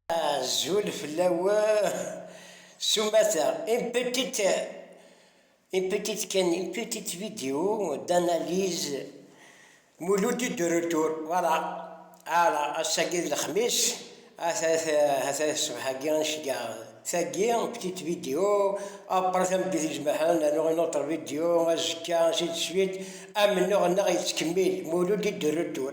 Azul fell-awen s umata. Une petite, une petite kan, une petite vidéo d'analyse Mouloudi de retour. Voilà. Ala, ass-agi d lexmis, ata ata ṣṣbeḥ-agi ad nceggeɛ tagi, une petite vidéo, après tameddit icebḥen nernu une autre vidéo, azekka ainsi de suite, amennuɣ-nneɣ yettkemmil, Mouloudi de retour.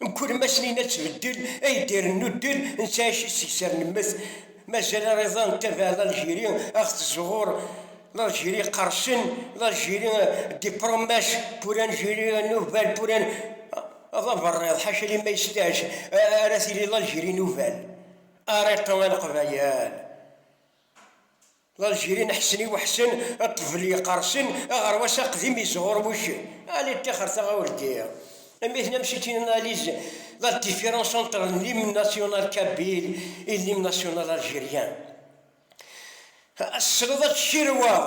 Mkul ma snin ad tbeddel, ay d-irennu ddel, netta aci seg ser nemmet, mazal ariḍan n tabaɛ n Algérie ad ɣ-tezzuɣur, l'Algérie iqersen, l'Algérie des promesses pour l'Algérie nouvelle pour un d aberriḍ, ḥaca limma yesteɛj ara tili l'Algérie nouvelle, ariṭṭu a leqbayel. Lalgiri n Ḥsen i Weḥsen, ṭṭbel yeqqersen, aɣerwas aqdim yesɣurmuc. Allez ṭixer taɣawlti. Amitn am c'est une analyse la différence entre l'hymne national kabyle et l'hymne national algérien. Ad tesleḍ ad tcirweḍ.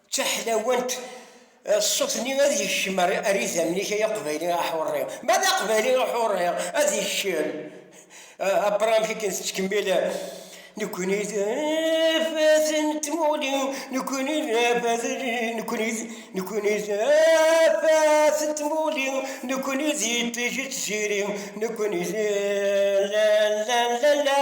D taḥlawant ṣṣut-nni ad yekcem ar idammen-ik ay aqbayli aḥurri. Ma d aqbayli aḥurri ad yekcem, abra amek akken tettkemmil Nekkni d afat n tmuɣli, nekkni d afat, nekkni d, nekkni d afat n tmuɣli, nekkni d iṭij n tziri, nekkni d la la la la.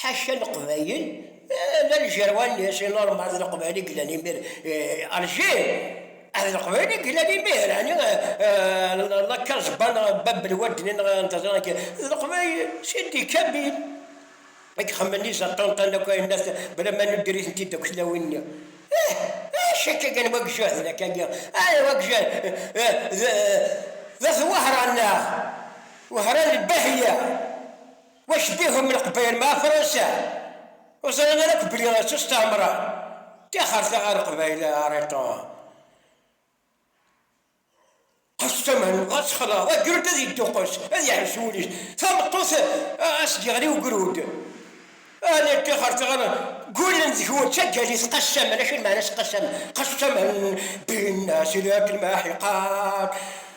Ḥaca Leqbayel, d Aljer walli-s, i Lorma d Leqbayel i yellan imir, Alger, d Leqbayel i yellan imir, ɛni Lakaẓba neɣ Bab n Wadni neɣ n teẓra n kra, d Leqbayel, Sidi Kamil, i ixemmen i Zaṭunṭan akk ayen nna-t, bla ma nuddir-itent-id akk tlawin-nni. Ih, ḥaca akka kan, wa ijehden akka-nni, ay wa ijehden, d at Wehran neɣ Wehran Lbahya. Wac bihum leqbayel meɛa fransa? Ur ẓran ara akk belli ttusteɛmren? Tixret a leqbayel a Ariṭun! Qes tamen, ad texleḍ, ad grent ad yedduqqes, ad yeḥbes wul-is. Tameṭṭut a s-d-yeɣli ugrud. Ahni tixret a gullen deg-wen d taggalit qes tamen, acu n meɛna-s qes tamen? Qes tamen, binna si leɛqel meḥiqat.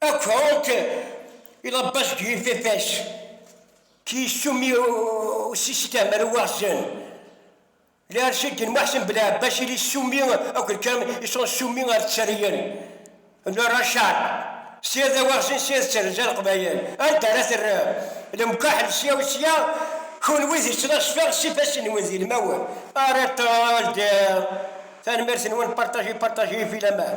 Akk-ok iḍebba seg yifafa-s k-yessumi usiskam ar uwaɣzen. Lɛerc-agi n Muḥsen Belɛebbas i l-yessumi akk kan i s-nessumi ar tterryen n Racar, sya d awaɣzen sya d terza leqbayel. Anda ara terr lemkaḥel sya u sya, kunwi d ttnaṣfa s ifassen-nwen d ilmawen. Ara teldiḍ. Tanemmirt-nwen, partager, partager, vilaman.